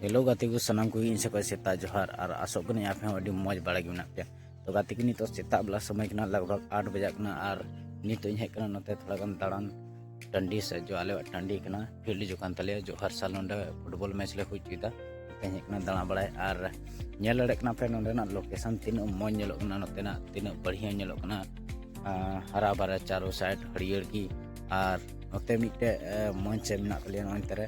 hello ᱜᱟᱛᱮ ᱠᱚ ᱥᱟᱱᱟᱢ ᱠᱚᱜᱮ ᱤᱧ ᱥᱮᱫ ᱠᱷᱚᱱ ᱥᱮᱛᱟᱜ ᱡᱚᱦᱟᱨ ᱟᱨ ᱟᱥᱚᱜ ᱠᱟᱹᱱᱟᱹᱧ ᱟᱯᱮ ᱦᱚᱸ ᱟᱹᱰᱤ ᱢᱚᱡᱽ ᱵᱟᱲᱟ ᱜᱮ ᱢᱮᱱᱟᱜ ᱯᱮᱭᱟ ᱛᱚ ᱜᱟᱛᱮ ᱠᱚ ᱱᱤᱛᱚᱜ ᱥᱮᱛᱟᱜ ᱵᱮᱞᱟ ᱥᱚᱢᱚᱭ ᱠᱟᱱᱟ ᱞᱟᱜᱽ ᱵᱷᱟᱜᱽ ᱟᱴ ᱵᱟᱡᱟᱜ ᱠᱟᱱᱟ ᱟᱨ ᱱᱤᱛᱚᱜ ᱤᱧ ᱦᱮᱡ ᱠᱟᱱᱟ ᱱᱚᱛᱮ ᱛᱷᱚᱲᱟ ᱜᱟᱱ ᱫᱟᱬᱟᱱ ᱴᱟᱺᱰᱤ ᱥᱮ ᱡᱚ ᱟᱞᱮᱭᱟᱜ ᱴᱟᱺᱰᱤ ᱠᱟᱱᱟ ᱯᱷᱤᱞᱰ ᱦᱤᱡᱩᱜ ᱠᱟᱱ ᱛᱟᱞᱮᱭᱟ ᱡᱚ ᱦᱟᱨ ᱥᱟᱞ ᱱᱚᱰᱮ ᱯᱷᱩᱴᱵᱚᱞ ᱢᱮᱪ ᱞᱮ ᱦᱩᱭ ᱦᱚᱪᱚᱭᱮᱫᱟ ᱛᱮᱧ ᱦᱮᱡ ᱠᱟᱱᱟ ᱫᱟᱬᱟ ᱵᱟᱲᱟᱭ ᱟᱨ ᱧᱮᱞ ᱫᱟᱲᱮᱭᱟᱜ ᱠᱟᱱᱟ ᱯᱮ ᱱᱚᱰᱮᱱᱟᱜ ᱞᱳᱠᱮᱥᱚᱱ ᱛᱤᱱᱟᱹᱜ ᱢᱚᱡᱽ ᱧᱮᱞᱚᱜ ᱠᱟᱱᱟ ᱱᱚᱛᱮᱱᱟᱜ ᱛᱤᱱᱟᱹᱜ ᱵᱟᱹᱲᱤᱭᱟᱹ ᱧᱮᱞᱚᱜ ᱠᱟᱱᱟ ᱦᱟᱨᱟ ᱵᱟᱨᱟ ᱪᱟᱨᱳ ᱥᱟᱭᱤᱰ ᱦᱟᱹᱨᱭᱟᱹᱲ ᱜᱮ ᱟᱨ ᱱᱚᱛᱮ ᱢᱤᱫᱴᱮᱡ ᱢᱚᱧᱪ ᱢᱮᱱᱟᱜ ᱛᱟᱞᱮᱭᱟ ᱱᱚᱜᱼᱚᱭ ᱱᱚᱛᱮ ᱨᱮ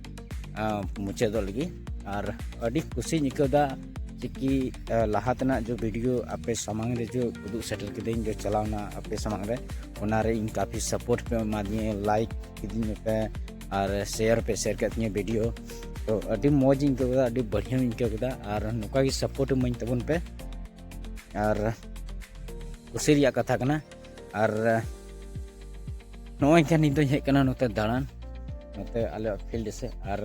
ᱢᱩᱪᱟᱹᱫᱚᱜ ᱞᱟᱹᱜᱤᱫ ᱟᱨ ᱟᱹᱰᱤ ᱠᱩᱥᱤᱧ ᱟᱹᱭᱠᱟᱹᱣᱫᱟ ᱪᱤᱠᱤ ᱞᱟᱦᱟ ᱛᱮᱱᱟᱜ ᱡᱚ ᱵᱷᱤᱰᱤᱭᱳ ᱟᱯᱮ ᱥᱟᱢᱟᱝ ᱨᱮ ᱡᱚ ᱩᱫᱩᱜ ᱥᱮᱴᱮᱨ ᱠᱤᱫᱟᱹᱧ ᱡᱚ ᱪᱟᱞᱟᱣᱱᱟ ᱟᱯᱮ ᱥᱟᱢᱟᱝ ᱨᱮ ᱚᱱᱟᱨᱮ ᱤᱧ ᱠᱟᱯᱷᱤ ᱥᱟᱯᱳᱨᱴ ᱯᱮ ᱮᱢᱟᱫᱤᱧᱟ ᱞᱟᱭᱤᱠ ᱠᱤᱫᱤᱧ ᱯᱮ ᱟᱨ ᱥᱮᱭᱟᱨ ᱯᱮ ᱥᱮᱭᱟᱨ ᱠᱮᱫ ᱛᱤᱧᱟᱹ ᱵᱷᱤᱰᱤᱭᱳ ᱛᱚ ᱟᱹᱰᱤ ᱢᱚᱡᱽ ᱤᱧ ᱟᱹᱭᱠᱟᱹᱣ ᱠᱮᱫᱟ ᱟᱹᱰᱤ ᱵᱟᱹᱲᱤᱭᱟᱹᱧ ᱟᱹᱭᱠᱟᱹᱣ ᱠᱮᱫᱟ ᱟᱨ ᱱᱚᱝᱠᱟ ᱜᱮ ᱥᱟᱯᱳᱨᱴ ᱤᱢᱟᱹᱧ ᱛᱟᱵᱚᱱ ᱯᱮ ᱟᱨ ᱠᱩᱥᱤ ᱨᱮᱭᱟᱜ ᱠᱟᱛᱷᱟ ᱠᱟᱱᱟ ᱟᱨ ᱱᱚᱜᱼᱚᱭ ᱠᱷᱟᱱ ᱱᱤᱛ ᱫᱚᱧ ᱦᱮᱡ ᱠᱟᱱᱟ ᱱᱚᱛᱮ ᱫᱟᱬᱟᱱ ᱱᱚᱛᱮ ᱟᱞᱮᱭᱟᱜ ᱯᱷᱤᱞᱰ ᱥᱮᱫ ᱟᱨ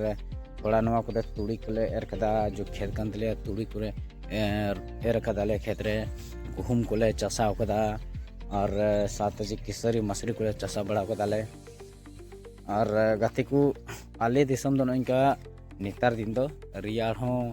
ᱛᱷᱚᱲᱟ ᱱᱚᱣᱟ ᱠᱚᱨᱮ ᱛᱩᱲᱤ ᱠᱚᱞᱮ ᱮᱨ ᱠᱟᱫᱟ ᱡᱚ ᱠᱷᱮᱛ ᱠᱟᱱ ᱛᱟᱞᱮᱭᱟ ᱛᱩᱲᱤ ᱠᱚᱨᱮ ᱮᱨ ᱠᱟᱫᱟᱞᱮ ᱠᱷᱮᱛ ᱨᱮ ᱜᱩᱦᱩᱢ ᱠᱚᱞᱮ ᱪᱟᱥᱟᱣ ᱠᱟᱫᱟ ᱟᱨ ᱥᱟᱶᱛᱮ ᱡᱮ ᱠᱤᱥᱟᱹᱨᱤ ᱢᱟᱥᱨᱤ ᱠᱚᱞᱮ ᱪᱟᱥᱟ ᱵᱟᱲᱟ ᱠᱟᱫᱟᱞᱮ ᱟᱨ ᱜᱟᱛᱮ ᱠᱚ ᱟᱞᱮ ᱫᱤᱥᱚᱢ ᱫᱚ ᱱᱚᱝᱠᱟ ᱱᱮᱛᱟᱨ ᱫᱤᱱ ᱫᱚ ᱨᱮᱭᱟᱲ ᱦᱚᱸ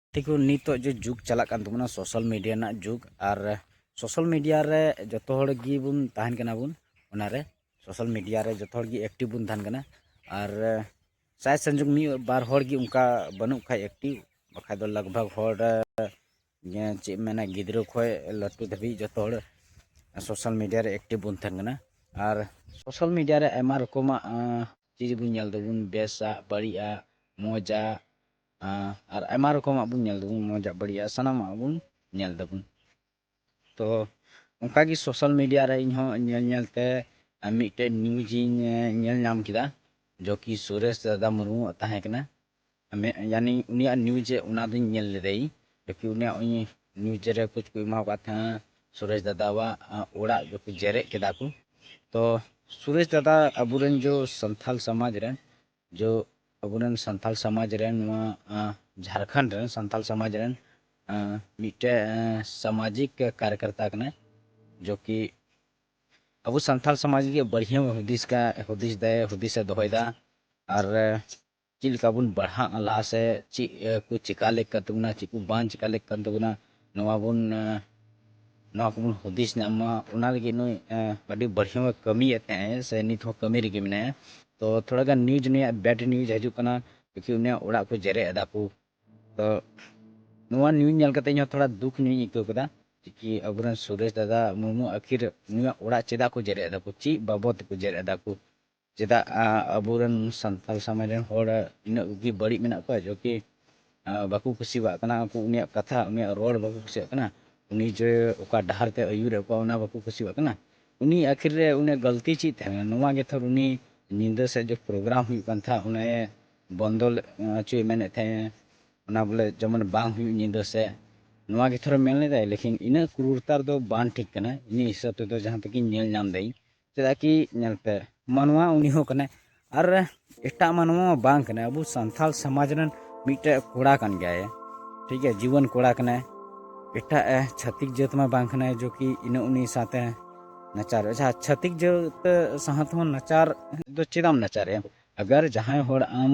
ᱛᱮᱠᱚ ᱱᱤᱛᱚᱜ ᱡᱮ ᱡᱩᱜᱽ ᱪᱟᱞᱟᱜ ᱠᱟᱱ ᱛᱟᱵᱚᱱᱟ ᱥᱳᱥᱟᱞ ᱢᱤᱰᱤᱭᱟ ᱨᱮᱱᱟᱜ ᱡᱩᱜᱽ ᱟᱨ ᱥᱳᱥᱟᱞ ᱢᱤᱰᱤᱭᱟ ᱨᱮ ᱡᱚᱛᱚ ᱦᱚᱲ ᱜᱮᱵᱚᱱ ᱛᱟᱦᱮᱱ ᱠᱟᱱᱟ ᱵᱚᱱ ᱚᱱᱟᱨᱮ ᱥᱳᱥᱟᱞ ᱢᱤᱰᱤᱭᱟ ᱨᱮ ᱡᱚᱛᱚ ᱦᱚᱲ ᱜᱮ ᱮᱠᱴᱤᱵᱽ ᱵᱚᱱ ᱛᱟᱦᱮᱱ ᱠᱟᱱᱟ ᱟᱨ ᱥᱟᱭ ᱥᱚᱝᱡᱳᱜᱽ ᱢᱤᱫ ᱵᱟᱨ ᱦᱚᱲ ᱜᱮ ᱚᱱᱠᱟ ᱵᱟᱹᱱᱩᱜ ᱠᱷᱟᱡ ᱮᱠᱴᱤᱵᱽ ᱵᱟᱠᱷᱟᱡ ᱫᱚ ᱞᱟᱜᱽ ᱵᱷᱟᱜᱽ ᱦᱚᱲ ᱪᱮᱫ ᱢᱮᱱᱟ ᱜᱤᱫᱽᱨᱟᱹ ᱠᱷᱚᱡ ᱞᱟᱹᱴᱩ ᱫᱷᱟᱹᱵᱤᱡ ᱡᱚᱛᱚ ᱦᱚᱲ ᱥᱳᱥᱟᱞ ᱢᱤᱰᱤᱭᱟ ᱨᱮ ᱮᱠᱴᱤᱵᱽ ᱵᱚᱱ ᱛᱟᱦᱮᱱ ᱠᱟᱱᱟ ᱟᱨ ᱥᱳᱥᱟᱞ ᱢᱤᱰᱤᱭᱟ ᱨᱮ ᱟᱭᱢᱟ ᱨᱚᱠᱚᱢᱟᱜ ᱪᱤᱡᱽ ᱵᱚᱱ ᱧᱮᱞ ᱫᱟᱵᱚᱱ ᱵᱮᱥᱟᱜ ᱵᱟᱹᱲᱤᱡᱟᱜ ᱢᱚᱡᱟᱜ ᱟᱨ ᱟᱭᱢᱟ ᱨᱚᱠᱚᱢᱟᱜ ᱵᱚᱱ ᱧᱮᱞ ᱫᱟᱵᱚᱱ ᱢᱚᱡᱟᱜ ᱵᱟᱹᱲᱤᱡᱟᱜ ᱥᱟᱱᱟᱢᱟᱜ ᱵᱚᱱ ᱧᱮᱞ ᱫᱟᱵᱚᱱ ᱛᱚ ᱚᱱᱠᱟ ᱜᱮ ᱥᱳᱥᱟᱞ ᱢᱤᱰᱤᱭᱟ ᱨᱮ ᱤᱧ ᱦᱚᱸ ᱧᱮᱞ ᱧᱮᱞ ᱛᱮ ᱢᱤᱫᱴᱮᱡ ᱱᱤᱭᱩᱡᱽ ᱤᱧ ᱧᱮᱞ ᱧᱟᱢ ᱠᱮᱫᱟ ᱡᱚ ᱠᱤ ᱥᱩᱨᱮᱥ ᱫᱟᱫᱟ ᱢᱩᱨᱢᱩᱣᱟᱜ ᱛᱟᱦᱮᱸ ᱠᱟᱱᱟ ᱭᱟᱱᱤ ᱩᱱᱤᱭᱟᱜ ᱱᱤᱭᱩᱡᱽ ᱚᱱᱟ ᱫᱚᱧ ᱧᱮᱞ ᱞᱮᱫᱟ ᱤᱧ ᱡᱚ ᱠᱤ ᱩᱱᱤᱭᱟᱜ ᱱᱤᱭᱩᱡᱽ ᱨᱮ ᱠᱩᱪ ᱠᱚ ᱮᱢᱟᱣ ᱠᱟᱜ ᱛᱟᱦᱮᱸᱜᱼᱟ ᱥᱩᱨᱮᱥ ᱫᱟᱫᱟᱣᱟᱜ ᱚᱲᱟᱜ ᱡᱚ ᱠᱤ ᱡᱮᱨᱮᱫ ᱠᱮᱫᱟ ᱠᱚ ᱛᱚ ᱥᱩᱨᱮᱥ ᱫᱟᱫᱟ ᱟᱵᱚ ᱨᱮᱱ ᱡᱚ ᱥᱟᱱᱛᱟᱞ ᱥᱚᱢᱟᱡᱽ ᱨᱮᱱ ᱡᱚ ᱟᱵᱚᱨᱮᱱ ᱥᱟᱱᱛᱟᱲ ᱥᱚᱢᱟᱡᱽ ᱨᱮᱱ ᱱᱚᱣᱟ ᱡᱷᱟᱲᱠᱷᱚᱸᱰ ᱨᱮᱱ ᱥᱟᱱᱛᱟᱲ ᱥᱚᱢᱟᱡᱽ ᱨᱮᱱ ᱢᱤᱫᱴᱮᱱ ᱥᱟᱢᱟᱡᱤᱠ ᱠᱟᱨᱡᱚᱠᱚᱨᱛᱟ ᱠᱟᱱᱟᱭ ᱡᱚ ᱠᱤ ᱟᱵᱚ ᱥᱟᱱᱛᱟᱲ ᱥᱚᱢᱟᱡᱽ ᱞᱟᱹᱜᱤᱫ ᱵᱟᱹᱲᱤᱡ ᱦᱚᱸ ᱦᱩᱫᱤᱥ ᱠᱟᱜ ᱦᱩᱫᱤᱥ ᱫᱟᱭ ᱦᱩᱫᱤᱥᱮ ᱫᱚᱦᱚᱭᱮᱫᱟ ᱟᱨ ᱪᱮᱫ ᱞᱮᱠᱟ ᱵᱚᱱ ᱵᱟᱲᱦᱟᱜᱼᱟ ᱞᱟᱦᱟ ᱥᱮᱫ ᱪᱮᱫ ᱠᱚ ᱪᱤᱠᱟᱹ ᱞᱮᱠ ᱠᱟᱱ ᱛᱟᱵᱚᱱᱟ ᱪᱮᱫ ᱠᱚ ᱵᱟᱝ ᱪᱤᱠᱟᱹ ᱞᱮᱠ ᱠᱟᱱ ᱛᱟᱵᱚᱱᱟ ᱱᱚᱣᱟ ᱵᱚᱱ ᱱᱚᱣᱟ ᱠᱚᱵᱚᱱ ᱦᱩᱫᱤᱥ ᱧᱟᱢ ᱢᱟ ᱚᱱᱟ ᱞᱟᱹᱜᱤᱫ ᱱᱩᱭ ᱟᱹᱰᱤ ᱵᱟᱹᱲᱦᱤᱢ ᱠᱟᱹᱢᱤᱭᱮᱫ ᱛᱟᱦᱮᱸᱜ ᱥᱮ ᱱᱤᱛ ᱦᱚᱸ ᱠᱟᱹᱢᱤ ᱨᱮᱜᱮ ᱢᱮᱱᱟᱭᱟ ᱛᱚ ᱛᱷᱚᱲᱟ ᱜᱟᱱ ᱱᱤᱭᱩᱡᱽ ᱱᱩᱭᱟᱜ ᱵᱮᱰ ᱱᱤᱭᱩᱡᱽ ᱦᱤᱡᱩᱜ ᱠᱟᱱᱟ ᱠᱤᱭᱩᱠᱤ ᱩᱱᱤᱭᱟᱜ ᱚᱲᱟᱜ ᱠᱚ ᱡᱮᱨᱮᱫ ᱮᱫᱟ ᱠᱚ ᱛᱚ ᱱᱚᱣᱟ ᱱᱤᱭᱩᱡᱽ ᱧᱮᱞ ᱠᱟᱛᱮ ᱤᱧ ᱦᱚᱸ ᱛᱷᱚᱲᱟ ᱫᱩᱠᱷ ᱧᱚᱜ ᱤᱧ ᱟᱹᱭᱠᱟᱹᱣ ᱠᱮᱫᱟ ᱠᱤᱭᱩᱠᱤ ᱟᱵᱚᱨᱮᱱ ᱥᱩᱨᱮᱥ ᱫᱟᱫᱟ ᱢᱩᱨᱢᱩ ᱟᱹᱠᱷᱤᱨ ᱱᱩᱭᱟᱜ ᱚᱲᱟᱜ ᱪᱮᱫᱟᱜ ᱠᱚ ᱡᱮᱨᱮᱫ ᱮᱫᱟ ᱠᱚ ᱪᱮᱫ ᱵᱟᱵᱚᱫ ᱛᱮᱠᱚ ᱡᱮᱨᱮᱫ ᱮᱫᱟ ᱠᱚ ᱪᱮᱫᱟᱜ ᱟᱵᱚ ᱨᱮᱱ ᱥᱟᱱᱛᱟᱲ ᱥᱚᱢᱟᱡᱽ ᱨᱮᱱ ᱦᱚᱲ ᱤᱱᱟᱹᱜ ᱜᱮ ᱵᱟᱹᱲᱤᱡ ᱢᱮᱱᱟᱜ ᱠᱚᱣᱟ ᱡᱮ ᱠᱤ ᱵᱟᱠᱚ ᱠᱩᱥᱤᱭᱟᱜ ᱠᱟᱱᱟ ᱩᱱᱠᱩ ᱩᱱᱤᱭᱟᱜ ᱠᱟᱛᱷᱟ ᱩᱱᱤᱭᱟᱜ ᱨᱚᱲ ᱵᱟᱠᱚ ᱠᱩᱥᱤᱭᱟᱜ ᱠᱟᱱᱟ ᱩᱱᱤ ᱡᱮ ᱚᱠᱟ ᱰᱟᱦᱟᱨ ᱛᱮ ᱟᱹᱭᱩᱨᱮᱫ ᱠᱚᱣᱟ ᱚᱱᱟ ᱵᱟᱠᱚ ᱠᱩᱥᱤᱭᱟᱜ ᱠᱟᱱᱟ ᱩᱱᱤ ᱟᱹᱠᱷᱤᱨ ᱨᱮ ᱩᱱᱤᱭᱟᱜ ᱜᱟᱹᱞᱛᱤ ᱪᱮᱫ ᱛᱟᱦᱮᱸ ᱞᱮᱱᱟ ᱱᱚᱣᱟ ᱜᱮ ᱛᱷᱚᱨ ᱩᱱᱤ ᱧᱤᱫᱟᱹ ᱥᱮᱫ ᱡᱮ ᱯᱨᱳᱜᱨᱟᱢ ᱦᱩᱭᱩᱜ ᱠᱟᱱ ᱛᱟᱦᱮᱸᱫ ᱚᱱᱮ ᱵᱚᱱᱫᱚ ᱦᱚᱪᱚᱭ ᱢᱮᱱᱮᱫ ᱛᱟᱦᱮᱸᱫ ᱮ ᱚᱱᱟ ᱵᱚᱞᱮ ᱡᱮᱢᱚᱱ ᱵᱟᱝ ᱦᱩᱭᱩᱜ ᱧᱤᱫᱟᱹ ᱥᱮᱫ ᱱᱚᱣᱟ ᱜᱮ ᱛᱷᱚᱨ ᱢᱮᱱ ᱞᱮᱫᱟᱭ ᱞᱮᱠᱤᱱ ᱤᱱᱟᱹᱜ ᱠᱨᱩᱨᱛᱟ ᱫᱚ ᱵᱟᱝ ᱴᱷᱤᱠ ᱠᱟᱱᱟ ᱤᱧᱟᱹᱜ ᱦᱤᱥᱟᱹᱵ ᱛᱮᱫᱚ ᱡᱟᱦᱟᱸ ᱛᱮᱜᱮᱧ ᱧᱮᱞ ᱧᱟᱢ ᱫᱟᱹᱧ ᱪᱮᱫᱟᱜ ᱠᱤ ᱧᱮᱞ ᱯᱮ ᱢᱟᱱᱣᱟ ᱩᱱᱤ ᱦᱚᱸ ᱠᱟᱱᱟᱭ ᱟᱨ ᱮᱴᱟᱜ ᱢᱟᱱᱣᱟ ᱵᱟᱝ ᱠᱟᱱᱟᱭ ᱟᱵᱚ ᱥᱟᱱᱛᱟᱲ ᱥᱚᱢᱟᱡᱽ ᱨᱮᱱ ᱢᱤᱫᱴᱮᱡ ᱠᱚᱲᱟ ᱠᱟᱱ ᱜᱮᱭᱟᱭ ᱴᱷᱤᱠ ᱜᱮᱭᱟ ᱡᱤᱵᱚᱱ ᱠᱚᱲᱟ ᱠᱟᱱᱟᱭ ᱮᱴᱟᱜ ᱪᱷᱟᱹᱛᱤᱠ ᱡᱟᱹᱛ ᱢᱟ ᱵᱟᱝ ᱠᱟᱱᱟᱭ ᱡᱚ ᱠᱤ ᱤᱱᱟᱹ ᱩᱱᱤ ᱥᱟᱶᱛᱮ ᱱᱟᱪᱟᱨ ᱟᱪᱪᱷᱟ ᱪᱷᱟᱹᱛᱤᱠ ᱡᱟᱹᱛ ᱥᱟᱶᱛᱮ ᱦᱚᱸ ᱱᱟᱪᱟᱨ ᱫᱚ ᱪᱮᱫᱟᱜ ᱮᱢ ᱱᱟᱪᱟᱨᱮᱭᱟ ᱟᱜᱟᱨ ᱡᱟᱦᱟᱸᱭ ᱦᱚᱲ ᱟᱢ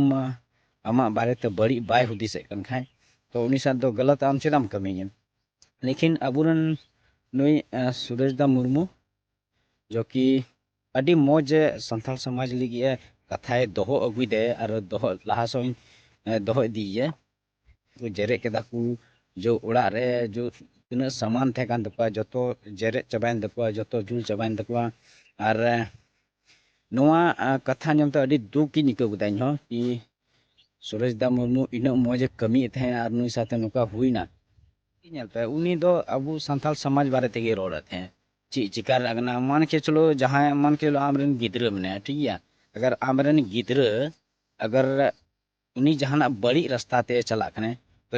ᱟᱢᱟᱜ ᱵᱟᱨᱮᱛᱮ ᱵᱟᱹᱲᱤᱡ ᱵᱟᱭ ᱦᱩᱫᱤᱥᱮᱫ ᱠᱟᱱ ᱠᱷᱟᱡ ᱛᱚ ᱩᱱᱤ ᱥᱟᱶ ᱫᱚ ᱜᱟᱞᱟᱛ ᱟᱢ ᱪᱮᱫᱟᱜ ᱮᱢ ᱠᱟᱹᱢᱤᱭᱟ ᱞᱮᱠᱤᱱ ᱟᱵᱚᱨᱮᱱ ᱱᱩᱭ ᱥᱩᱨᱮᱥ ᱫᱟ ᱢᱩᱨᱢᱩ ᱡᱚ ᱠᱤ ᱟᱹᱰᱤ ᱢᱚᱡᱽ ᱮ ᱥᱟᱱᱛᱟᱲ ᱥᱚᱢᱟᱡᱽ ᱞᱟᱹᱜᱤᱫ ᱮ ᱠᱟᱛᱷᱟᱭ ᱫᱚᱦᱚ ᱟᱹᱜᱩᱭᱮᱫᱟ ᱟᱨ ᱫᱚᱦᱚ ᱞᱟᱦᱟ ᱥᱮᱫ ᱦᱚᱸᱭ ᱫᱚᱦᱚ ᱤᱫᱤᱭᱮᱭᱟ ᱛᱚ ᱡᱮᱨᱮᱫ ᱠᱮᱫᱟ ᱠᱚ ᱡᱚ ᱚᱲᱟᱜ ᱨᱮ ᱡᱚ ᱛᱤᱱᱟᱹᱜ ᱥᱟᱢᱟᱱ ᱛᱟᱦᱮᱸ ᱠᱟᱱ ᱛᱟᱠᱚᱣᱟ ᱡᱚᱛᱚ ᱡᱮᱨᱮᱫ ᱪᱟᱵᱟᱭᱮᱱ ᱛᱟᱠᱚᱣᱟ ᱡᱚᱛᱚ ᱡᱩᱞ ᱪᱟᱵᱟᱭᱮᱱ ᱛᱟᱠᱚᱣᱟ ᱟᱨ ᱱᱚᱣᱟ ᱠᱟᱛᱷᱟ ᱟᱸᱡᱚᱢ ᱛᱮ ᱟᱹᱰᱤ ᱫᱩᱠ ᱤᱧ ᱟᱹᱭᱠᱟᱹᱣ ᱠᱮᱫᱟ ᱤᱧ ᱦᱚᱸ ᱠᱤ ᱥᱩᱨᱮᱥ ᱫᱟ ᱢᱩᱨᱢᱩ ᱤᱱᱟᱹᱜ ᱢᱚᱡᱽ ᱮ ᱠᱟᱹᱢᱤᱭᱮᱫ ᱛᱟᱦᱮᱸᱫ ᱟᱨ ᱱᱩᱭ ᱥᱟᱶᱛᱮ ᱱᱚᱝᱠᱟ ᱦᱩᱭᱱᱟ ᱧᱮᱞ ᱯᱮ ᱩᱱᱤ ᱫᱚ ᱟᱵᱚ ᱥᱟᱱᱛᱟᱲ ᱥᱚᱢᱟᱡᱽ ᱵᱟᱨᱮ ᱛᱮᱜᱮ ᱨᱚᱲᱮᱫ ᱛᱟᱦᱮᱸᱫ ᱪᱮᱫ ᱪᱤᱠᱟᱹ ᱨᱮᱱᱟᱜ ᱠᱟᱱᱟ ᱢᱟᱱ ᱠᱮ ᱪᱚᱞᱚ ᱡᱟᱦᱟᱸᱭ ᱢᱟᱱ ᱠᱮ ᱪᱚᱞᱚ ᱟᱢᱨᱮᱱ ᱜᱤᱫᱽᱨᱟᱹ ᱢᱮᱱᱟᱭᱟ ᱴᱷᱤᱠ ᱜᱮᱭᱟ ᱟᱜᱟᱨ ᱟᱢᱨᱮᱱ ᱜᱤᱫᱽᱨᱟᱹ ᱟᱜᱟᱨ ᱩᱱᱤ ᱡᱟᱦᱟᱱᱟᱜ ᱵᱟᱹᱲᱤᱡ ᱨᱟᱥᱛᱟ ᱛᱮ ᱪᱟᱞᱟᱜ ᱠᱟᱱᱟᱭ ᱛᱚ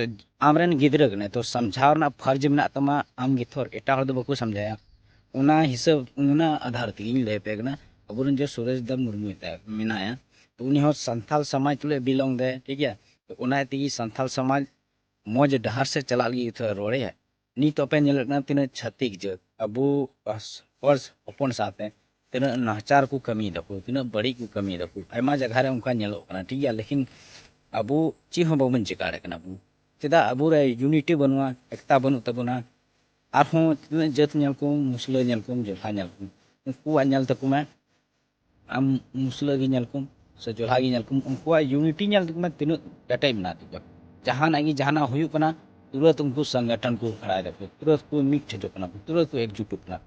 ᱟᱢᱨᱮᱱ ᱜᱤᱫᱽᱨᱟᱹ ᱠᱟᱱᱟᱭ ᱛᱚ ᱥᱟᱢᱡᱷᱟᱣ ᱨᱮᱱᱟᱜ ᱯᱷᱟᱨᱡᱽ ᱢᱮᱱᱟᱜ ᱛᱟᱢᱟ ᱟᱢ ᱜᱮ ᱛᱷᱚᱨ ᱮᱴᱟᱜ ᱦᱚᱲ ᱫᱚ ᱵᱟᱠᱚ ᱥᱟᱢᱡᱷᱟᱣᱮᱭᱟ ᱚᱱᱟ ᱦᱤᱥᱟᱹᱵ ᱚᱱᱟ ᱟᱫᱷᱟᱨ ᱛᱮᱜᱮᱧ ᱞᱟᱹᱭ ᱟᱯᱮ ᱠᱟᱱᱟ ᱟᱵᱚᱨᱮᱱ ᱡᱮ ᱥᱩᱨᱮᱥ ᱫᱟ ᱢᱩᱨᱢᱩ ᱢᱮᱱᱟᱭᱟ ᱛᱚ ᱩᱱᱤ ᱦᱚᱸ ᱥᱟᱱᱛᱟᱞ ᱥᱚᱢᱟᱡᱽ ᱛᱩᱞᱩᱡ ᱵᱤᱞᱚᱝ ᱫᱟᱭ ᱴᱷᱤᱠ ᱜᱮᱭᱟ ᱛᱚ ᱚᱱᱟ ᱛᱮᱜᱮ ᱥᱟᱱᱛᱟᱞ ᱥᱚᱢᱟᱡᱽ ᱢᱚᱡᱽ ᱰᱟᱦᱟᱨ ᱥᱮᱫ ᱪᱟᱞᱟᱜ ᱞᱟᱹᱜᱤᱫ ᱛᱷᱚᱲᱟ ᱨᱚᱲᱮᱭᱟ ᱱᱤᱛᱚᱜ ᱯᱮ ᱧᱮᱞᱮᱫ ᱠᱟᱱᱟ ᱛᱤᱱᱟᱹᱜ ᱪᱷᱟᱹᱛᱤᱠ ᱡᱟᱹᱛ ᱟᱵᱚ ᱦᱚᱲ ᱦᱚᱯᱚᱱ ᱥᱟᱶᱛᱮ ᱛᱤᱱᱟᱹᱜ ᱱᱟᱦᱟᱪᱟᱨ ᱠᱚ ᱠᱟᱹᱢᱤᱭ ᱫᱟᱠᱚ ᱛᱤᱱᱟᱹᱜ ᱵᱟᱹᱲᱤᱡ ᱠᱚ ᱠᱟᱹᱢᱤᱭ ᱫᱟᱠᱚ ᱟᱭᱢᱟ ᱡᱟᱭᱜᱟ ᱨᱮ ᱚᱱᱠᱟ ᱧᱮᱞᱚᱜ ᱠᱟᱱᱟ ᱴᱷᱤᱠ ᱜᱮᱭᱟ ᱞᱮᱠᱤᱱ ᱟᱵᱚ ᱪᱮᱫ ᱦᱚᱸ ᱵᱟᱵᱚᱱ ᱪᱤᱠᱟᱹ ᱫᱟᱲᱮᱭᱟᱜ ᱠᱟᱱᱟ ᱵᱚᱱ ᱪᱮᱫᱟᱜ ᱟᱵᱚ ᱨᱮ ᱭᱩᱱᱤᱴᱤ ᱵᱟᱹᱱᱩᱜᱼᱟ ᱮᱠᱛᱟ ᱵᱟᱹᱱᱩᱜ ᱛᱟᱵᱚᱱᱟ ᱟᱨᱦᱚᱸ ᱛᱤᱱᱟᱹᱜ ᱡᱟᱹᱛ ᱧᱮᱞ ᱠᱚᱢ ᱢᱩᱥᱞᱟᱹ ᱧᱮᱞ ᱠᱚᱢ ᱡᱚᱛᱚ ᱧᱮᱞ ᱠᱚᱢ ᱩᱱᱠᱩᱣᱟᱜ ᱧᱮᱞ ᱛᱟᱠᱚ ᱢᱮ ᱟᱢ ᱢᱩᱥᱞᱟᱹ ᱜᱮ ᱧᱮᱞ ᱠᱚᱢ ᱥᱮ ᱡᱚᱞᱦᱟ ᱜᱮ ᱧᱮᱞ ᱠᱚᱢ ᱩᱱᱠᱩᱣᱟᱜ ᱤᱭᱩᱱᱤᱴᱤ ᱧᱮᱞ ᱢᱮ ᱛᱤᱱᱟᱹᱜ ᱠᱮᱴᱮᱡ ᱢᱮᱱᱟᱜ ᱛᱟᱠᱚᱣᱟ ᱡᱟᱦᱟᱱᱟᱜ ᱜᱮ ᱡᱟᱦᱟᱱᱟᱜ ᱦᱩᱭᱩᱜ ᱠᱟᱱᱟ ᱛᱩᱨᱟᱹᱛ ᱩᱱᱠᱩ ᱥᱚᱝᱜᱚᱴᱷᱚᱱ ᱠᱚ ᱠᱷᱟᱲᱟᱭ ᱫᱟᱠᱚ ᱛᱩᱨᱟᱹᱛ ᱠᱚ ᱢᱤᱫ ᱴᱷᱮᱡᱚᱜ ᱠᱟᱱᱟ ᱠᱚ ᱛᱩᱨᱟᱹᱛ ᱠᱚ ᱮᱠᱡᱩᱴᱚᱜ ᱠᱟᱱᱟ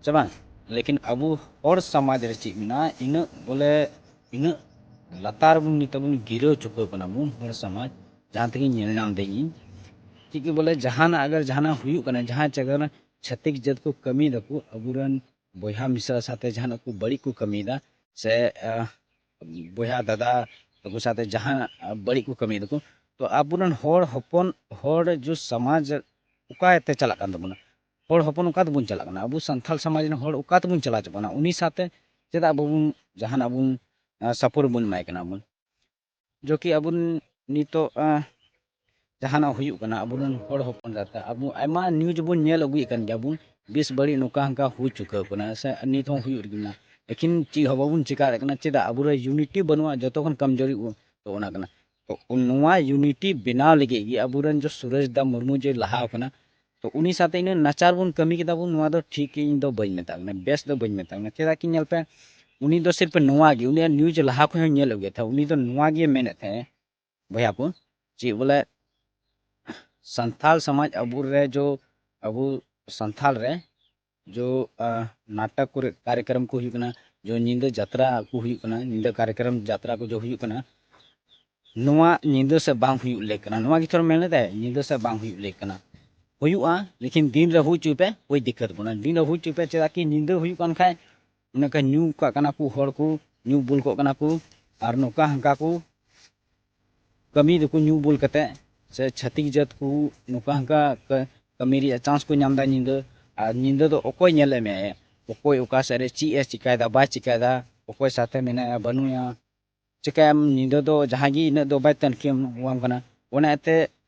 ᱥᱮ ᱵᱟᱝ ᱞᱮᱠᱤᱱ ᱟᱵᱚ ᱦᱚᱲ ᱥᱚᱢᱟᱡᱽ ᱨᱮ ᱪᱮᱫ ᱢᱮᱱᱟᱜᱼᱟ ᱤᱱᱟᱹᱜ ᱵᱚᱞᱮ ᱤᱱᱟᱹᱜ ᱞᱟᱛᱟᱨ ᱵᱚᱱ ᱱᱤᱛᱚᱜ ᱵᱚᱱ ᱜᱤᱨᱟᱹ ᱪᱩᱠᱟᱹᱣ ᱠᱟᱱᱟ ᱵᱚᱱ ᱦᱚᱲ ᱥᱚᱢᱟᱡᱽ ᱡᱟᱦᱟᱸ ᱛᱮᱜᱮ ᱧᱮᱞ ᱧᱟᱢ ᱫᱟᱹᱧ ᱤᱧ ᱪᱮᱫ ᱜᱮ ᱵᱚᱞᱮ ᱡᱟᱦᱟᱱᱟᱜ ᱟᱜᱚᱨ ᱡᱟᱦᱟᱱᱟᱜ ᱦᱩᱭᱩᱜ ᱠᱟᱱᱟ ᱡᱟᱦᱟᱸ ᱡᱟᱭᱜᱟ ᱨᱮ ᱪᱷᱟᱹᱛᱤᱠ ᱡᱟᱹᱛ ᱠᱚ ᱠᱟᱹᱢᱤᱭ ᱫᱟᱠᱚ ᱟᱵᱚᱨᱮᱱ ᱵᱚᱭᱦᱟ ᱢᱤᱥᱨᱟ ᱥᱟᱛᱮ ᱡᱟᱦᱟᱱᱟᱜ ᱠᱚ ᱵᱟᱹᱲᱤᱡ ᱠᱚ ᱠᱟᱹᱢᱤᱭᱮᱫᱟ ᱥᱮ ᱵᱚᱭᱦᱟ ᱫᱟᱫᱟ ᱛᱟᱠᱚ ᱥᱟᱛᱮ ᱡᱟᱦᱟᱸ ᱵᱟᱹᱲᱤᱡ ᱠᱚ ᱠᱟᱹᱢᱤᱭᱮᱫᱟ ᱠᱚ ᱛᱚ ᱟᱵᱚᱨᱮᱱ ᱦᱚᱲ ᱦᱚᱯᱚᱱ ᱦᱚᱲ ᱡᱚ ᱥᱚᱢᱟᱡᱽ ᱚᱠᱟᱛᱮ ᱪᱟᱞᱟᱜ ᱠᱟᱱ ᱛᱟᱵᱚᱱᱟ ᱦᱚᱲ ᱦᱚᱯᱚᱱ ᱚᱠᱟ ᱛᱮᱵᱚᱱ ᱪᱟᱞᱟᱜ ᱠᱟᱱᱟ ᱟᱵᱚ ᱥᱟᱱᱛᱟᱲ ᱥᱚᱢᱟᱡᱽ ᱨᱮᱱ ᱦᱚᱲ ᱚᱠᱟ ᱛᱮᱵᱚᱱ ᱪᱟᱞᱟᱣ ᱪᱟᱵᱟᱜ ᱠᱟᱱᱟ ᱩᱱᱤ ᱥᱟᱶᱛᱮ ᱪᱮᱫᱟᱜ ᱵᱟᱵᱚᱱ ᱡᱟᱦᱟᱱᱟᱜ ᱵᱚᱱ ᱥᱟᱯᱳᱨᱴ ᱵᱚᱱ ᱮᱢᱟᱭ ᱠᱟᱱᱟ ᱵᱚᱱ ᱡᱚᱠᱤ ᱟᱵᱚ ᱱᱤᱛᱚᱜ ᱡᱟᱦᱟᱱᱟᱜ ᱦᱩᱭᱩᱜ ᱠᱟᱱᱟ ᱟᱵᱚ ᱨᱮᱱ ᱦᱚᱲ ᱦᱚᱯᱚᱱ ᱡᱟᱛᱮ ᱟᱵᱚ ᱟᱭᱢᱟ ᱱᱤᱭᱩᱡᱽ ᱵᱚᱱ ᱧᱮᱞ ᱟᱹᱜᱩᱭᱮᱫ ᱠᱟᱱ ᱜᱮᱭᱟ ᱵᱚᱱ ᱵᱮᱥ ᱵᱟᱹᱲᱤᱡ ᱱᱚᱝᱠᱟ ᱦᱟᱱᱠᱟ ᱦᱩᱭ ᱪᱩᱠᱟᱹᱣ ᱠᱟᱱᱟ ᱥᱮ ᱱᱤᱛ ᱦᱚᱸ ᱦᱩᱭᱩᱜ ᱨᱮᱜᱮ ᱢᱮᱱᱟᱜᱼᱟ ᱞᱮᱠᱤᱱ ᱪᱮᱫ ᱦᱚᱸ ᱵᱟᱵᱚᱱ ᱪᱤᱠᱟᱹ ᱫᱟᱲᱮᱭᱟᱜ ᱠᱟᱱᱟ ᱪᱮᱫᱟᱜ ᱟᱵᱚ ᱨᱮ ᱤᱭᱩᱱᱤᱴᱤ ᱵᱟᱹᱱᱩᱜᱼᱟ ᱡᱚᱛᱚ ᱠᱷᱚᱱ ᱠᱚᱢᱡᱩᱨᱤ ᱵᱚᱱ ᱛᱚ ᱚᱱᱟ ᱠᱟᱱᱟ ᱛᱚ ᱱᱚᱣᱟ ᱤᱭᱩᱱᱤᱴᱤ ᱵᱮᱱᱟᱣ ᱞᱟᱹᱜᱤᱫ ᱜᱮ ᱟᱵᱚ ᱨᱮᱱ ᱡᱮ ᱥᱩᱨᱮᱥ ᱫᱟ ᱢᱩᱨᱢᱩ ᱡᱮ ᱞᱟᱦᱟᱣ ᱠᱟᱱᱟ ᱛᱚ ᱩᱱᱤ ᱥᱟᱛᱮ ᱤᱱᱟᱹ ᱱᱟᱪᱟᱨ ᱵᱚᱱ ᱠᱟᱹᱢᱤ ᱠᱮᱫᱟ ᱵᱚᱱ ᱱᱚᱣᱟ ᱫᱚ ᱴᱷᱤᱠ ᱤᱧ ᱫᱚ ᱵᱟᱹᱧ ᱢᱮᱛᱟᱜ ᱠᱟᱱᱟ ᱵᱮᱥ ᱫᱚ ᱵᱟᱹᱧ ᱢᱮᱛᱟᱜ ᱠᱟᱱᱟ ᱪᱮᱫᱟᱜ ᱠᱤ ᱧᱮᱞ ᱯᱮ ᱩᱱᱤ ᱫᱚ ᱥᱤᱨᱯ ᱱᱚᱣᱟ ᱜᱮ ᱩᱱᱤᱭᱟᱜ ᱱᱤᱭᱩᱡᱽ ᱞᱟᱦᱟ ᱠᱷᱚᱱ ᱦᱚᱸ ᱧᱮᱞ ᱟᱹᱜᱩᱭ ᱛᱟᱦᱮᱸ ᱩᱱᱤ ᱫᱚ ᱱᱚᱣᱟ ᱜᱮ ᱢᱮᱱᱮᱫ ᱛᱟᱦᱮᱸ ᱵᱚᱭᱦᱟ ᱠᱚ ᱪᱮᱫ ᱵᱚᱞᱮ ᱥᱟᱱᱛᱟᱞ ᱥᱚᱢᱟᱡᱽ ᱟᱵᱚ ᱨᱮ ᱡᱚ ᱟᱵᱚ ᱥᱟᱱᱛᱟᱞ ᱨᱮ ᱡᱚ ᱱᱟᱴᱚᱠ ᱠᱚᱨᱮ ᱠᱟᱨᱭᱚᱠᱨᱚᱢ ᱠᱚ ᱦᱩᱭᱩᱜ ᱠᱟᱱᱟ ᱡᱚ ᱧᱤᱫᱟᱹ ᱡᱟᱛᱨᱟ ᱠᱚ ᱦᱩᱭᱩᱜ ᱠᱟᱱᱟ ᱧᱤᱫᱟᱹ ᱠᱟᱨᱭᱚᱠᱨᱚᱢ ᱡᱟᱛᱨᱟ ᱠᱚ ᱡᱚ ᱦᱩᱭᱩᱜ ᱠᱟᱱᱟ ᱱᱚᱣᱟ ᱧᱤᱫᱟᱹ ᱥᱮᱫ ᱵᱟᱝ ᱦᱩᱭᱩᱜ ᱞᱮᱠ ᱠᱟᱱᱟ ᱱᱚᱣᱟ ᱜᱮᱛᱚ ᱢᱮᱱ ᱞᱮᱫᱟᱭ ᱧᱤᱫᱟᱹ ᱥᱮᱫ ᱵᱟᱝ ᱦᱩᱭᱩᱜ ᱞᱮᱠ ᱠᱟᱱᱟ ᱦᱩᱭᱩᱜᱼᱟ ᱞᱮᱠᱤᱱ ᱫᱤᱱ ᱨᱮ ᱦᱩᱭ ᱦᱚᱪᱚᱭ ᱯᱮ ᱠᱳᱭ ᱫᱤᱠᱠᱟᱹᱛ ᱵᱟᱹᱱᱩᱜᱼᱟ ᱫᱤᱱ ᱨᱮ ᱦᱩᱭ ᱦᱚᱪᱚᱭ ᱯᱮ ᱪᱮᱫᱟᱜ ᱠᱤ ᱧᱤᱫᱟᱹ ᱦᱩᱭᱩᱜ ᱠᱟᱱ ᱠᱷᱟᱡ ᱚᱱᱮ ᱠᱚ ᱧᱩ ᱠᱟᱜ ᱠᱟᱱᱟ ᱠᱚ ᱦᱚᱲ ᱠᱚ ᱧᱩ ᱵᱩᱞ ᱠᱚᱜ ᱠᱟᱱᱟ ᱠᱚ ᱟᱨ ᱱᱚᱝᱠᱟ ᱦᱟᱱᱠᱟ ᱠᱚ ᱠᱟᱹᱢᱤ ᱫᱚᱠᱚ ᱧᱩ ᱵᱩᱞ ᱠᱟᱛᱮ ᱥᱮ ᱪᱷᱟᱹᱛᱤᱠ ᱡᱟᱹᱛ ᱠᱚ ᱱᱚᱝᱠᱟ ᱦᱟᱱᱠᱟ ᱠᱟᱹᱢᱤ ᱨᱮᱭᱟᱜ ᱪᱟᱱᱥ ᱠᱚ ᱧᱟᱢ ᱮᱫᱟ ᱧᱤᱫᱟᱹ ᱟᱨ ᱧᱤᱫᱟᱹ ᱫᱚ ᱚᱠᱚᱭ ᱧᱮᱞᱮ ᱢᱮᱭᱟᱭᱟ ᱚᱠᱚᱭ ᱚᱠᱟ ᱥᱮᱫ ᱨᱮ ᱪᱮᱫ ᱮ ᱪᱤᱠᱟᱹᱭᱮᱫᱟ ᱵᱟᱭ ᱪᱤᱠᱟᱹᱭᱮᱫᱟ ᱚᱠᱚᱭ ᱥᱟᱛᱮ ᱢᱮᱱᱟᱭᱟ ᱵᱟᱹᱱᱩᱭᱟ ᱪᱤᱠᱟᱹᱭᱟᱢ ᱧᱤᱫᱟᱹ ᱫᱚ ᱡᱟᱦᱟᱸᱭ ᱜᱮ ᱤᱱᱟᱹᱜ ᱫᱚ ᱵᱟᱭ ᱛᱩᱱᱠᱷᱤᱭᱟᱢ ᱠᱟᱱᱟ ᱚᱱᱟ ᱤᱭᱟᱹᱛᱮ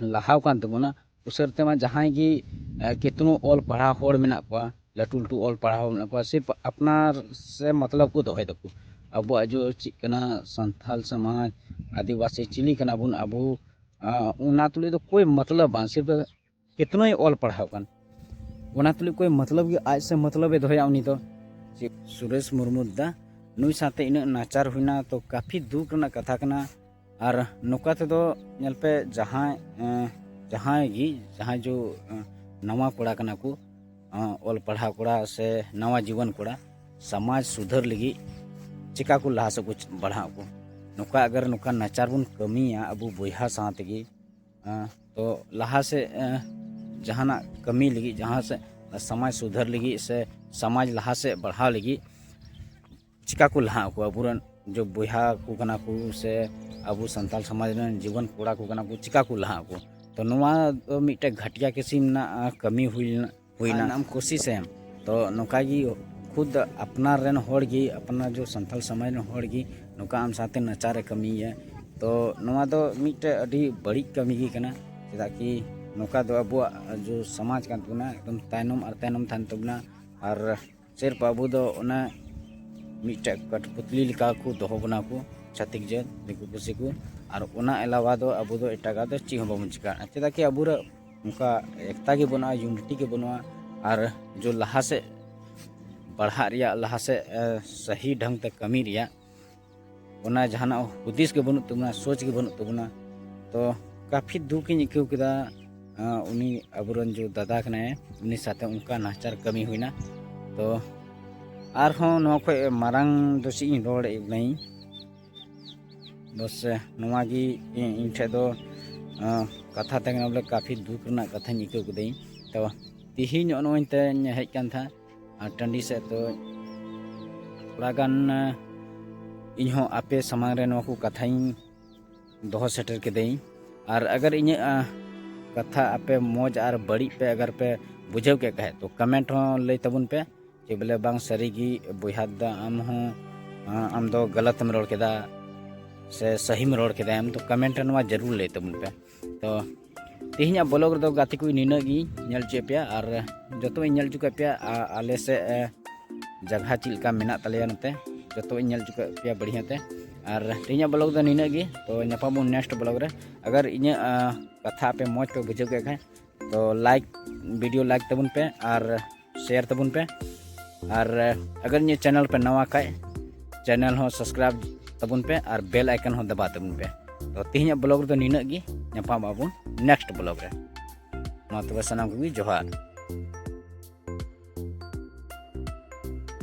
ᱞᱟᱦᱟᱣ ᱠᱟᱱ ᱛᱟᱵᱚᱱᱟ ᱩᱥᱟᱹᱨ ᱛᱮᱢᱟ ᱡᱟᱦᱟᱸᱭ ᱜᱮ ᱠᱤᱛᱱᱩ ᱚᱞ ᱯᱟᱲᱦᱟᱣ ᱦᱚᱲ ᱢᱮᱱᱟᱜ ᱠᱚᱣᱟ ᱞᱟᱹᱴᱩ ᱞᱟᱹᱴᱩ ᱚᱞ ᱯᱟᱲᱦᱟᱣ ᱦᱚᱲ ᱢᱮᱱᱟᱜ ᱠᱚᱣᱟ ᱥᱤᱨᱯ ᱟᱯᱱᱟᱨ ᱥᱮ ᱢᱚᱛᱞᱚᱵ ᱠᱚ ᱫᱚᱦᱚᱭ ᱫᱟᱠᱚ ᱟᱵᱚᱣᱟᱜ ᱡᱚ ᱪᱮᱫ ᱠᱟᱱᱟ ᱥᱟᱱᱛᱟᱞ ᱥᱚᱢᱟᱡᱽ ᱟᱹᱫᱤᱵᱟᱹᱥᱤ ᱪᱤᱞᱤ ᱠᱟᱱᱟ ᱵᱚᱱ ᱟᱵᱚ ᱚᱱᱟ ᱛᱩᱞᱩᱡ ᱫᱚ ᱠᱳᱭ ᱢᱚᱛᱞᱚᱵ ᱵᱟᱝ ᱥᱤᱨᱯ ᱠᱤᱛᱱᱩᱭ ᱚᱞ ᱯᱟᱲᱦᱟᱣ ᱠᱟᱱ ᱚᱱᱟ ᱛᱩᱞᱩᱡ ᱠᱳᱭ ᱢᱚᱛᱞᱚᱵ ᱜᱮ ᱟᱡ ᱥᱮ ᱢᱚᱛᱞᱚᱵ ᱮ ᱫᱚᱦᱚᱭᱟ ᱩᱱᱤ ᱫᱚ ᱥᱩᱨᱮᱥ ᱢᱩᱨᱢᱩ ᱫᱟ ᱱᱩᱭ ᱥᱟᱶᱛᱮ ᱤᱱᱟᱹᱜ ᱱᱟᱪᱟᱨ ᱦᱩᱭᱱᱟ ᱛᱚ ᱠᱟᱯᱷᱤ ᱫᱩᱠ ᱨᱮᱱᱟᱜ ᱠᱟᱛᱷᱟ ᱠᱟᱱᱟ ᱟᱨ ᱱᱚᱝᱠᱟ ᱛᱮᱫᱚ ᱧᱮᱞ ᱯᱮ ᱡᱟᱦᱟᱸᱭ ᱡᱟᱦᱟᱸᱭ ᱜᱮ ᱡᱟᱦᱟᱸᱭ ᱡᱚ ᱱᱟᱣᱟ ᱠᱚᱲᱟ ᱠᱟᱱᱟ ᱠᱚ ᱚᱞ ᱯᱟᱲᱦᱟᱣ ᱠᱚᱲᱟ ᱥᱮ ᱱᱟᱣᱟ ᱡᱩᱣᱟᱹᱱ ᱠᱚᱲᱟ ᱥᱚᱢᱟᱡᱽ ᱥᱩᱫᱷᱟᱹᱨ ᱞᱟᱹᱜᱤᱫ ᱪᱤᱠᱟᱹ ᱠᱚ ᱞᱟᱦᱟ ᱥᱮᱫ ᱠᱚ ᱵᱟᱲᱦᱟᱜ ᱟᱠᱚ ᱱᱚᱝᱠᱟ ᱟᱜᱟᱨ ᱱᱚᱝᱠᱟ ᱱᱟᱪᱟᱨ ᱵᱚᱱ ᱠᱟᱹᱢᱤᱭᱟ ᱟᱵᱚ ᱵᱚᱭᱦᱟ ᱥᱟᱶ ᱛᱮᱜᱮ ᱛᱚ ᱞᱟᱦᱟ ᱥᱮᱫ ᱡᱟᱦᱟᱱᱟᱜ ᱠᱟᱹᱢᱤ ᱞᱟᱹᱜᱤᱫ ᱡᱟᱦᱟᱸ ᱥᱮᱫ ᱥᱚᱢᱟᱡᱽ ᱥᱩᱫᱷᱟᱹᱨ ᱞᱟᱹᱜᱤᱫ ᱥᱮ ᱥᱚᱢᱟᱡᱽ ᱞᱟᱦᱟ ᱥᱮᱫ ᱵᱟᱲᱦᱟᱣ ᱞᱟᱹᱜᱤᱫ ᱪᱤᱠᱟ ᱠᱚ ᱞᱟᱦᱟ ᱟᱠᱚ ᱟᱵᱚᱨᱮᱱ ᱡᱚᱵ ᱵᱚᱭᱦᱟ ᱠᱚ ᱠᱟᱱᱟ ᱠᱚ ᱥᱮ ᱟᱵᱚ ᱥᱟᱱᱛᱟᱲ ᱥᱚᱢᱟᱡᱽ ᱨᱮᱱ ᱡᱩᱣᱟᱹᱱ ᱠᱚᱲᱟ ᱠᱚ ᱠᱟᱱᱟ ᱠᱚ ᱪᱤᱠᱟ ᱠᱚ ᱞᱟᱦᱟ ᱟᱠᱚ ᱛᱚ ᱱᱚᱣᱟ ᱫᱚ ᱢᱤᱫᱴᱮᱡ ᱜᱷᱟᱴᱤᱭᱟ ᱠᱤᱥᱤᱢ ᱨᱮᱱᱟᱜ ᱠᱟᱹᱢᱤ ᱦᱩᱭ ᱞᱮᱱᱟ ᱦᱩᱭᱱᱟ ᱟᱢ ᱠᱳᱥᱤᱥ ᱮᱢ ᱛᱚ ᱱᱚᱝᱠᱟ ᱜᱮ ᱠᱷᱩᱫ ᱟᱯᱱᱟᱨ ᱨᱮᱱ ᱦᱚᱲ ᱜᱮ ᱟᱯᱱᱟᱨ ᱡᱚ ᱥᱟᱱᱛᱟᱲ ᱥᱚᱢᱟᱡᱽ ᱨᱮᱱ ᱦᱚᱲ ᱜᱮ ᱱᱚᱝᱠᱟ ᱟᱢ ᱥᱟᱶᱛᱮ ᱱᱟᱪᱟᱨᱮ ᱠᱟᱹᱢᱤᱭᱟ ᱛᱚ ᱱᱚᱣᱟ ᱫᱚ ᱢᱤᱫᱴᱮᱡ ᱟᱹᱰᱤ ᱵᱟᱹᱲᱤᱡ ᱠᱟᱹᱢᱤ ᱜᱮ ᱠᱟᱱᱟ ᱪᱮᱫᱟᱜ ᱠᱤ ᱱᱚᱝᱠᱟ ᱫᱚ ᱟᱵᱚᱣᱟᱜ ᱡᱚ ᱥᱚᱢᱟᱡᱽ ᱠᱟᱱ ᱛᱟᱵᱚᱱᱟ ᱮᱠᱫᱚᱢ ᱛᱟᱭᱱᱚᱢ ᱟᱨ ᱛᱟᱭᱱᱚᱢ ᱛᱟᱦᱮᱱ ᱛᱟᱵᱚᱱᱟ ᱟᱨ ᱥᱮᱨ ᱵᱟᱹᱵᱩ ᱫᱚ ᱚᱱᱟ ᱢᱤᱫᱴᱮᱡ ᱠᱟᱴᱯᱩᱛᱞᱤ ᱞᱮᱠᱟ ᱠᱚ ᱫᱚᱦᱚ ᱵᱚᱱᱟ ᱠᱚ ᱪᱷᱟᱛᱤᱠ ᱡᱟᱹᱛ ᱫᱤᱠᱩ ᱯᱩᱥᱤ ᱠᱚ ᱟᱨ ᱚᱱᱟ ᱮᱞᱟᱣᱟ ᱫᱚ ᱟᱵᱚ ᱫᱚ ᱮᱴᱟᱜᱟᱜ ᱫᱚ ᱪᱮᱫ ᱦᱚᱸ ᱵᱟᱵᱚᱱ ᱪᱤᱠᱟᱹᱜᱼᱟ ᱪᱮᱫᱟᱜ ᱠᱤ ᱟᱵᱚ ᱚᱱᱠᱟ ᱮᱠᱛᱟ ᱜᱮ ᱵᱟᱹᱱᱩᱜᱼᱟ ᱭᱩᱱᱤᱴᱤ ᱜᱮ ᱵᱟᱹᱱᱩᱜᱼᱟ ᱟᱨ ᱡᱚ ᱞᱟᱦᱟ ᱥᱮᱫ ᱯᱟᱲᱦᱟᱜ ᱨᱮᱭᱟᱜ ᱞᱟᱦᱟ ᱥᱮᱫ ᱥᱟᱹᱦᱤ ᱰᱷᱚᱝ ᱛᱮ ᱠᱟᱹᱢᱤ ᱨᱮᱭᱟᱜ ᱚᱱᱟ ᱡᱟᱦᱟᱱᱟᱜ ᱦᱩᱫᱤᱥ ᱜᱮ ᱵᱟᱹᱱᱩᱜ ᱛᱟᱵᱚᱱᱟ ᱥᱳᱪ ᱜᱮ ᱵᱟᱹᱱᱩᱜ ᱛᱟᱵᱚᱱᱟ ᱛᱚ ᱠᱟᱯᱷᱤ ᱫᱩᱠ ᱤᱧ ᱟᱹᱭᱠᱟᱹᱣ ᱠᱮᱫᱟ ᱩᱱᱤ ᱟᱵᱚᱨᱮᱱ ᱡᱚ ᱫᱟᱫᱟ ᱠᱟᱱᱟᱭ ᱩᱱᱤ ᱥᱟᱛᱮ ᱚᱱᱠᱟ ᱱᱟᱦᱟᱪᱟᱨ ᱠᱟᱹᱢᱤ ᱦᱩᱭᱱᱟ ᱛᱚ ᱟᱨᱦᱚᱸ ᱱᱚᱣᱟ ᱠᱷᱚᱡ ᱢᱟᱨᱟᱝ ᱫᱚ ᱪᱮᱫ ᱤᱧ ᱨᱚᱲ ᱮᱫᱟᱹᱧ ᱵᱚᱥ ᱱᱚᱣᱟ ᱜᱮ ᱤᱧ ᱴᱷᱮᱡ ᱫᱚ ᱠᱟᱛᱷᱟ ᱛᱟᱦᱮᱸ ᱠᱟᱱᱟ ᱵᱚᱞᱮ ᱠᱟᱯᱷᱤ ᱫᱩᱠ ᱨᱮᱱᱟᱜ ᱠᱟᱛᱷᱟᱧ ᱟᱹᱭᱠᱟᱹᱣ ᱠᱮᱫᱟᱹᱧ ᱛᱚ ᱛᱤᱦᱤᱧ ᱱᱚᱜᱼᱚᱭ ᱱᱚᱜᱼᱚᱭ ᱛᱮᱧ ᱦᱮᱡ ᱟᱠᱟᱱ ᱛᱟᱦᱮᱸᱫ ᱟᱨ ᱴᱟᱺᱰᱤ ᱥᱮᱫ ᱫᱚ ᱛᱷᱚᱲᱟ ᱜᱟᱱ ᱤᱧ ᱦᱚᱸ ᱟᱯᱮ ᱥᱟᱢᱟᱝ ᱨᱮ ᱱᱚᱣᱟ ᱠᱚ ᱠᱟᱛᱷᱟᱧ ᱫᱚᱦᱚ ᱥᱮᱴᱮᱨ ᱠᱤᱫᱟᱹᱧ ᱟᱨ ᱟᱜᱟᱨ ᱤᱧᱟᱹᱜ ᱠᱟᱛᱷᱟ ᱟᱯᱮ ᱢᱚᱡᱽ ᱟᱨ ᱵᱟᱹᱲᱤᱡ ᱯᱮ ᱟᱜᱟᱨ ᱯᱮ ᱵᱩᱡᱷᱟᱹᱣ ᱠᱮᱫ ᱠᱷᱟᱡ ᱛᱚ ᱠᱚᱢᱮᱱᱴ ᱦᱚᱸ ᱞᱟᱹᱭ ᱛᱟᱵᱚᱱ ᱯᱮ ᱡᱮ ᱵᱚᱞᱮ ᱵᱟᱝ ᱥᱟᱹᱨᱤᱜᱮ ᱵᱚᱭᱦᱟ ᱫᱟ ᱟᱢ ᱦᱚᱸ ᱟᱢ ᱫᱚ ᱜᱟᱞᱟᱛᱮᱢ ᱨᱚᱲ ᱠᱮᱫᱟ ᱥᱮ ᱥᱟᱹᱦᱤᱢ ᱨᱚᱲ ᱠᱮᱫᱟ ᱟᱢ ᱫᱚ ᱠᱚᱢᱮᱱᱴ ᱨᱮ ᱱᱚᱣᱟ ᱡᱟᱹᱨᱩᱲ ᱞᱟᱹᱭ ᱛᱟᱵᱚᱱ ᱯᱮ ᱛᱚ ᱛᱮᱦᱮᱧᱟᱜ ᱵᱞᱚᱜ ᱨᱮᱫᱚ ᱜᱟᱛᱮ ᱠᱚ ᱱᱤᱱᱟᱹᱜ ᱜᱮ ᱧᱮᱞ ᱦᱚᱪᱚᱭᱮᱫ ᱯᱮᱭᱟ ᱟᱨ ᱡᱚᱛᱚ ᱤᱧ ᱧᱮᱞ ᱦᱚᱪᱚ ᱠᱮᱫ ᱯᱮᱭᱟ ᱟᱞᱮ ᱥᱮᱫ ᱡᱟᱭᱜᱟ ᱪᱮᱫ ᱞᱮᱠᱟ ᱢᱮᱱᱟᱜ ᱛᱟᱞᱮᱭᱟ ᱱᱚᱛᱮ ᱡᱚᱛᱚ ᱤᱧ ᱧᱮᱞ ᱦᱚᱪᱚ ᱠᱮᱫ ᱯᱮᱭᱟ ᱵᱟᱹᱲᱤᱭᱟᱹ ᱛᱮ ᱟᱨ ᱛᱮᱦᱮᱧᱟᱜ ᱵᱞᱚᱜ ᱫᱚ ᱱᱤᱱᱟᱹᱜ ᱜᱮ ᱛᱚ ᱧᱟᱯᱟᱢᱚᱱ ᱱᱮᱠᱥᱴ ᱵᱞᱚᱜ ᱨᱮ ᱟᱜᱟᱨ ᱤᱧᱟᱹᱜ ᱠᱟᱛᱷᱟ ᱟᱯᱮ ᱢᱚᱡᱽ ᱯᱮ ᱵᱩᱡᱷᱟᱹᱣ ᱠᱮᱫ ᱠᱷᱟᱱ ᱛᱚ ᱞᱟᱭᱤᱠ ᱵᱷᱤᱰᱤᱭᱳ ᱞᱟᱭᱤᱠ ᱛᱟᱵᱚᱱ ᱯᱮ ᱟᱨ ᱥᱮᱭᱟᱨ ᱛᱟᱵᱚᱱ ᱯᱮ ᱟᱨ ᱟᱜᱟᱨ ᱱᱤᱭᱟᱹ ᱪᱮᱱᱮᱞ ᱯᱮ ᱱᱟᱣᱟ ᱠᱷᱟᱡ ᱪᱮᱱᱮᱞ ᱦᱚᱸ ᱥᱟᱵᱥᱠᱨᱟᱭᱤᱵ ᱛᱟᱵᱚᱱ ᱯᱮ ᱟᱨ ᱵᱮᱞ ᱟᱭᱠᱚᱱ ᱦᱚᱸ ᱫᱟᱵᱟ ᱛᱟᱵᱚᱱ ᱯᱮ ᱛᱚ ᱛᱮᱦᱮᱧᱟᱜ ᱵᱞᱚᱜ ᱨᱮᱫᱚ ᱱᱤᱱᱟᱹᱜ ᱜᱮ ᱧᱟᱯᱟᱢ ᱟᱵᱚᱱ ᱱᱮᱠᱥᱴ ᱵᱞᱚᱜ ᱨᱮ ᱢᱟ ᱛᱚᱵᱮ ᱥᱟᱱᱟᱢ ᱠᱚᱜᱮ ᱡᱚᱦᱟᱨ